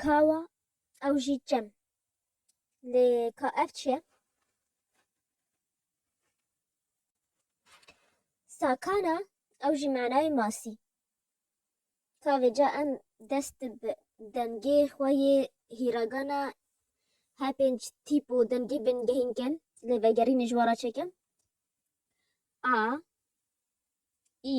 Kawa ew jî çem. Lê ka ev çi ye? Sakana ew jî manayê masî. Ka vêca em dest bi dengê xwe yê hîragana her pênc tîp û dengê bên gehînkin lê vegerînê ji we re çêkim. A, î,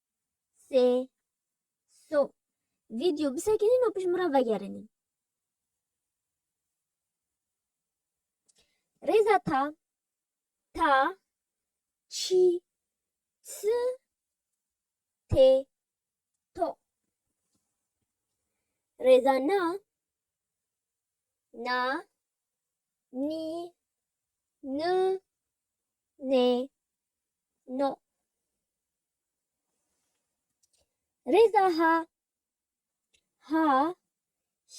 sê, so. Vîdyo bisekinîn û pişt min re vegerinîn. Rêza ta, ta, çî, çi, tê, to. Rêza na, na, nî, ni, nê, no. Rêza ha, ha,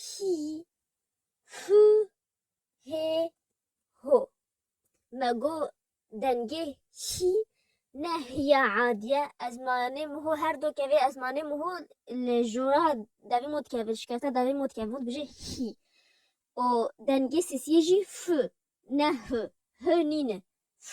hî, hû, hê, ho. Me got dengê hî ne hîya adî ye. Ez manê miho her do kevê ez manê miho li jora devê min dikeve, şikesta devê min dikeve min dibêje hî. O dengê sesiyê jî f ne h. H nîne f.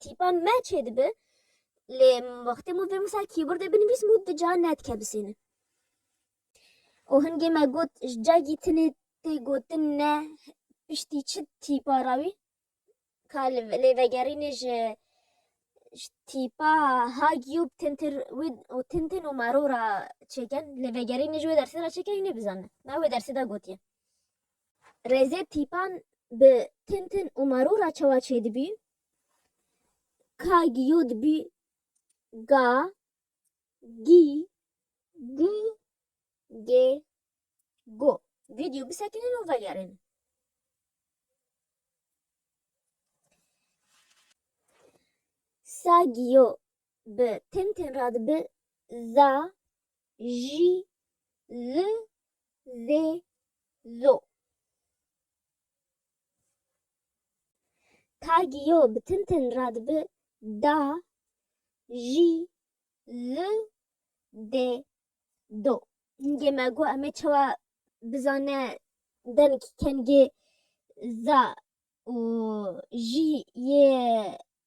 Tîpa me çê dibe lê wextê min vê min ser kîbordê binivîs min di ca nedike bisêne. û hingê me got ji cagî tinê tê gotin ne piştî çi tîpa ra wî ka li lê vegerînê ji ji tîpa ha giyûb tintir wê û tintin û maro ra çêken lê vegerînê ji wê dersê ra çêken hînê bizane me wê dersê de gotiye. Rêzê tîpan bi tin tin û marû re çawa çêdibî? Ka giyo dibî ga, gî, gû, gê, go. Vîdyo bisekinin û velyarênin. Sa giyo bi tin tin re dibi za, jî li vê zo. Tagî yo bi tin tin re dibi da jî li dê do. Hingê me got em ê çawa bizane denik kengê za û jî yê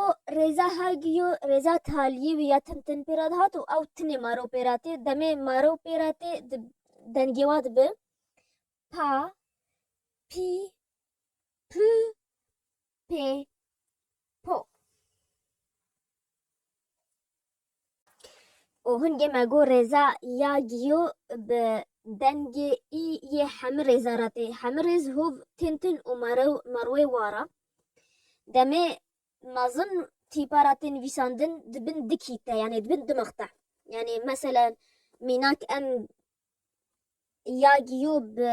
û rêza Hagiyo rêza Taliyê wî ya tim tim pêra dihat û ew tinê maro pêra tê demê maro pêra tê di dengê wa dibi pa pî pû pê po. û hûn gê me got rêza ya giyo bi dengê î yê hemû rêza re tê. Hemû rêz hov tên tin û merew merwê wa re. Demê mezin tîpa re tên vîsandin di bin dikî te yanê di bin dimix te. Yanê mesela mînak em ya giyo bi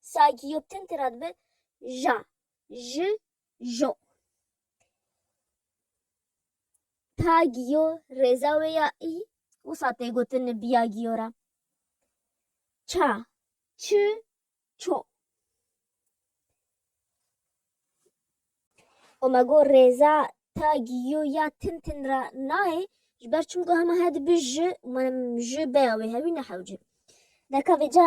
Saygıyoptin tira dibe ja, ji, jo. Ta giyo rêza wê ya î wisa tê gotin biya giyo ra. Ça, çi, ço. O me got rêza ta giyo ya tin tin ra nayê ji ber çimku hema he dibi ji û ji bêya wê hewî nehewce. Deka vêca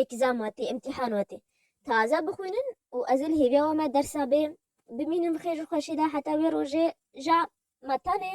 Exam hatî, îmtîhan hatî. Taze bixwînin û ez ê li hêviya we me dersa bê bimînim bi xêr û xweşî de heta wê rojê ja me tenê.